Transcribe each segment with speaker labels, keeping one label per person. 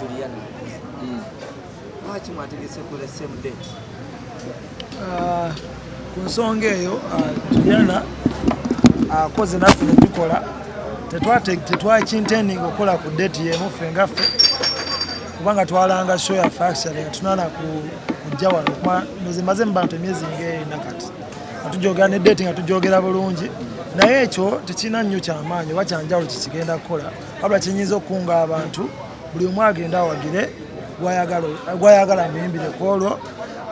Speaker 1: Juliana hmm. lwaki mwategese ku the same date ah,
Speaker 2: ku nsonga eyo ah, Juliana akoze ah, naffe netukola tetwakintending okukola ku date yemu ffe nga ffe kubanga twalanga show ya factory nga tunana kujja wano kuba nze maze mubantu emyezi ng'ena kati nga tujogera ne date nga tujogera bulungi naye ekyo tekirina nnyo kyamaanyi oba kyanjawulo kyekigenda kukola wabula kyenyinza okukunga abantu buli omu agenda awagire gwayagala muyimbire ku olwo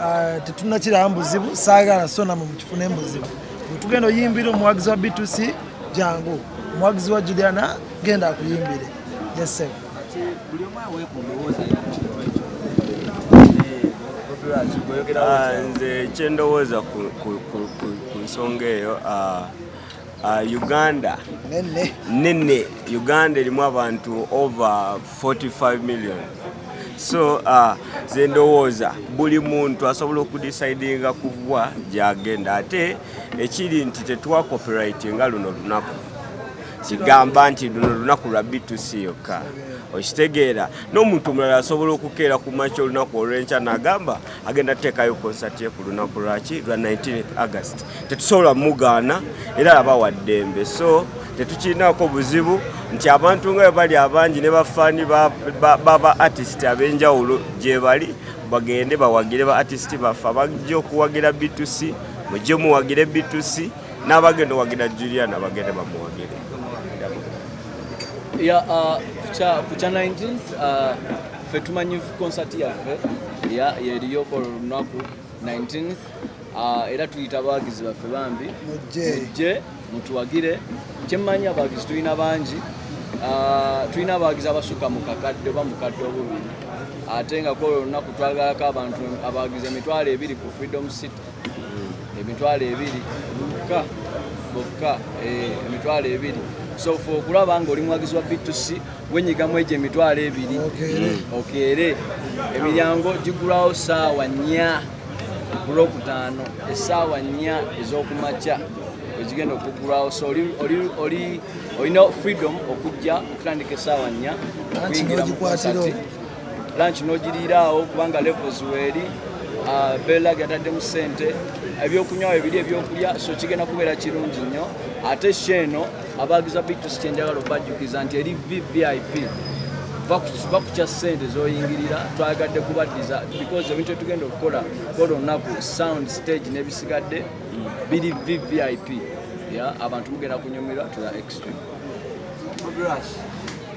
Speaker 2: ah, tetunakirawo mubuzibu saagala sona mu mukifuna emubuzibu bwetugenda oyimbire omuwagizi wa btc jangu omuwagizi wa juliana genda akuyimbire yese
Speaker 1: ah,
Speaker 3: nze kyendowooza ku nsonga eyo ah, Uh, Uganda nene nene Uganda elimu abantu over 45 million so uh, zendowooza buli muntu asobola okudecidinga kugwa gyagenda ate ekiri nti tetwa copyright nga luno lunaku kigamba nti luno lunaku lwa btc yokka okitegeera n'omuntu omulala asobola okukeera ku makya olunaku olwenkya nagamba agenda tuteekayo konsati ye ku lunaku lwaki lwa 19 august tetusobola mugaana era laba wa ddembe so tetukirinaako buzibu nti abantu nga bali abangi ne bafaani baba artist ab'enjawulo gyebali bagende bawagire ba artist baffe abajja okuwagira bitusi mujje muwagire bitusi n'abagenda owagira julia nabagende bamuwagire uh,
Speaker 4: ku kya 19 ffe tumanyi konsati yaffe yeriyoko lunaku 19 uh, era tuyita abawagizi baffe bambi mujje mutuwagire kyemmanyi abawagizi tulina bangi uh, tulina abawagizi abasuka mu kakadde oba mukadde obubiri ate nga kwolwo olunaku twagalako abantu abawagizi emitwalo ebiri ku freedom city hmm. emitwalo ebiri bokka bokka eh, emitwalo ebiri so fe okulaba nga oli muwagizi wa btc wenyigamu egyo emitwalo ebiri okeere emiryango gigulawo saawa nnya kulwokutaano esaawa nnya ezokumakya egigenda okugulawo so olina freedom okujja okutandika esaawa nnya okuyingira mukonsati lunch nogiriiraawo kubanga levels weeri ah, bella gataddemu sente ebyokunywawo ebiri ebyokulya so kigenda kubeera kirungi nnyo ate sheeno Abaagiza Beatrice kyenjagala obajjukiza nti eri VVIP va ku kya ssente zoyingirira twagadde kubaddiza because ebintu etugenda okukola kola olunaku sound stage n'ebisigadde biri VVIP ya abantu mugenda kunyumirwa to the extreme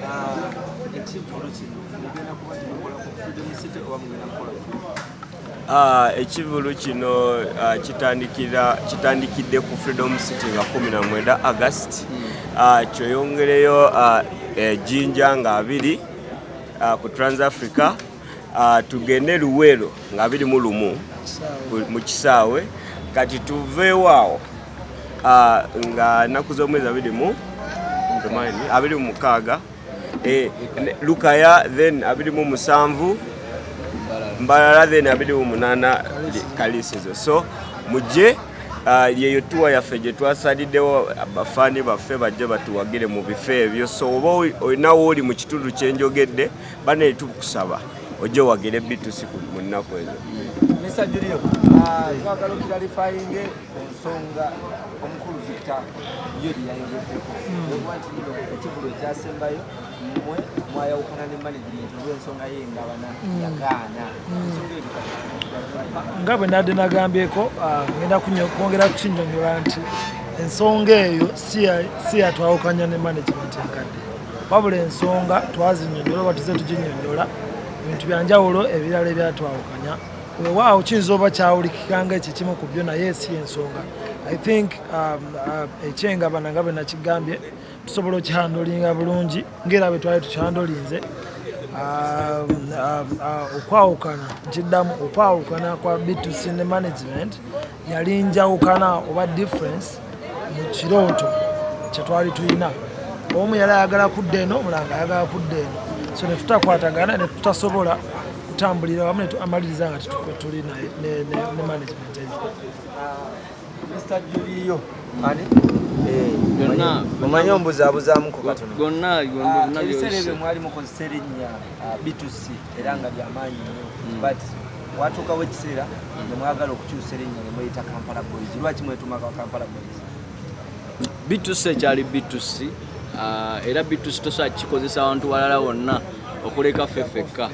Speaker 4: uh, ekivulu kino mugenda kuba kimukola ku freedom
Speaker 3: city oba mugenda kukola Ah, ekivulu kino ah, kitandikidde ku freedom city nga 19 agust hmm. ah, kyoyongereyo ejinja eh, nga abiri ku transafrica tugende luweero nga abiri mu lumu mu kisaawe kati tuveewaawo nga naku z'omwezi abiri mu abiri mu mukaaga Eh, lukaya then abiri mu musanvu mbalala then abiri mu munana kalisizo so mujje uh, yeyo tuwa yaffe gye twasaliddewo bafaani baffe bajje batuwagire mu bifo ebyo so oba olinawo oli mu kitundu kyenjogedde bane tukusaba ojje wagire bitusi mu nnaku ezo
Speaker 1: ku nsonga omukulu Victor ye bye yayogeddeko okuba nti bino ekivulu ekyasembayo mwe mwayawukana ne management olw'ensonga ye nga bana yagaana ensonga
Speaker 2: eyo nga bwe nadde nagambyeko ah, ngenda kwongera kukinyonyola nti ensonga eyo si yatwawukanya ne management enkadde wabula ensonga twazinyonyola oba tuze tuginyonyola ebintu byanjawulo ebirala ebyatwawukanya wewaawo kiyinza oba kyawulikika nga ekyo kimu ku byo naye si ensonga i think um, uh, ekyenga bana nga bwe nakigambye tusobola okihandolinga bulungi ngaera bwe twali tukihandolinze um, um, uh, okwawukana nkiddamu okwawukana kwa bitusi ne management yali njawukana oba difference mu kirooto kye twali tulina omu yali ayagala kudda eno omulanga ayagala kudda eno so netutakwatagana netutasobola kutambulira wamu amaliriza nga tuli ne management eyo
Speaker 1: omanyi ombuzabuzamuku katono era nga byamaanyi nnyo hmm. but watuukawo ekiseera ne mwagala okukyusa erinnya ne mweyita kampala boys lwaki mwetumaka kampala boys
Speaker 4: bitusi ekyali bitusi ah, era bitusi tosobola kikozesa abantu balala wonna okuleka ffe fekka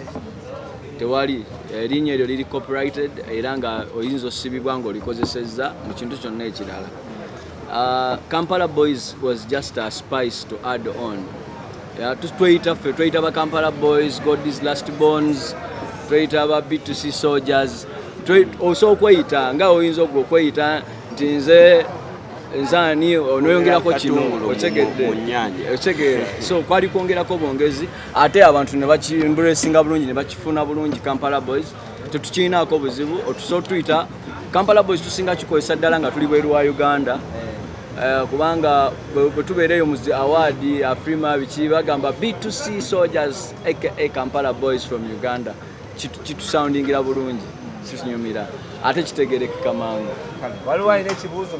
Speaker 4: tewali erinnya eryo liri copyrighted era nga oyinza osibibwa ng'olikozesezza mu kintu kyonna ekirala Uh, Kampala boys was just a spice to add on. Yeah, tweyita ffe tweyita ba Kampala boys, God is last bones, tweyita ba B2C soldiers. Oso okweyita nga oyinza ogwo okweyita nti nze nzani onoyongerako kino otegedde otegeera so kwali kwongerako bwongezi ate abantu ne bakimbulesinga bulungi ne bakifuna bulungi Kampala boys tetukiinaako buzibu otusa otuyita kampala boys tusinga kikozesa ddala nga tuli bweru wa uganda eh, kubanga bwetubeera eyo muzi awaadi afrima biki bagamba b2c soldiers aka kampala boys from uganda kitusoundingira bulungi kitunyumira ate kitegerekeka mangu waliwo alina
Speaker 1: ekibuuzo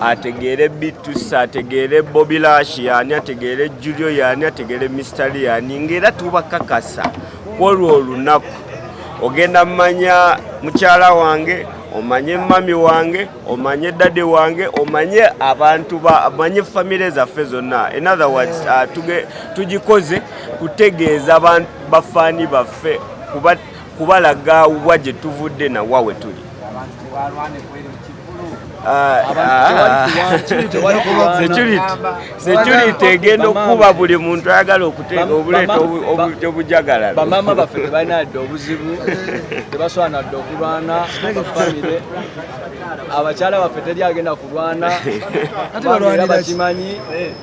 Speaker 3: ategeere bitusi ategeere bobilashi yani ategeere julio yani ategeere mistali yani ngaera tubakakasa kwolwo olunaku ogenda mumanya mukyala wange omanye mami wange omanye dade wange omanye abantu omanye famire zaffe zonna in other words uh, tugikoze kutegeeza bafaani baffe kubalaga wa gye tuvudde nawa we tuli security egenda okukuba buli muntu ayagala okuteeka obuleeta obujagalalo bamaama baffe
Speaker 4: tebalina yadde obuzibu tebaswana dde okulwana bafamire abakyala baffe teri agenda kulwana era bakimanyi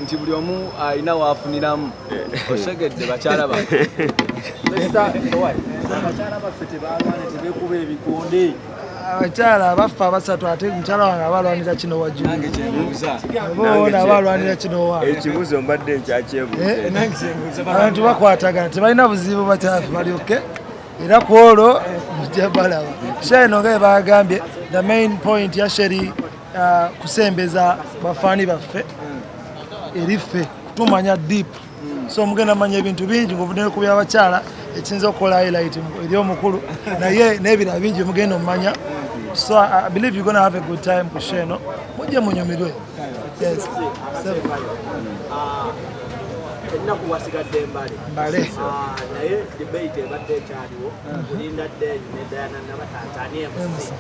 Speaker 4: nti buli omu alina waafuniramu osegedde bakyala baffe
Speaker 1: tebalwana tebekuba ebikonde abakyala
Speaker 2: abaffe abasatu ate mukyala wange abalwanira kino wajuoona abalwanira kino waekibuzo eh, mbadde
Speaker 3: nkyakyebuabantu eh, bakwatagana
Speaker 2: tebalina buzibu bakyafe balyoke era ku olwo mujja balaba sheno nga ebagambye the main point ya sheri uh, kusembeza bafaani baffe hmm. eri ffe kutumanya deep hmm. so mugenda manya ebintu bingi ngaovudde ku byabakyala ekiyinza okukola highlight eri omukulu naye n'ebirala bingi mugenda omumanya hmm. so i believe you're gonna have a good time ku sheno mujje munyumirwe yes. ennaku
Speaker 1: wasigadde mbale mbale ah, naye debate ebadde ekyaliwo kulinda deni ne dayana nabatantani emusi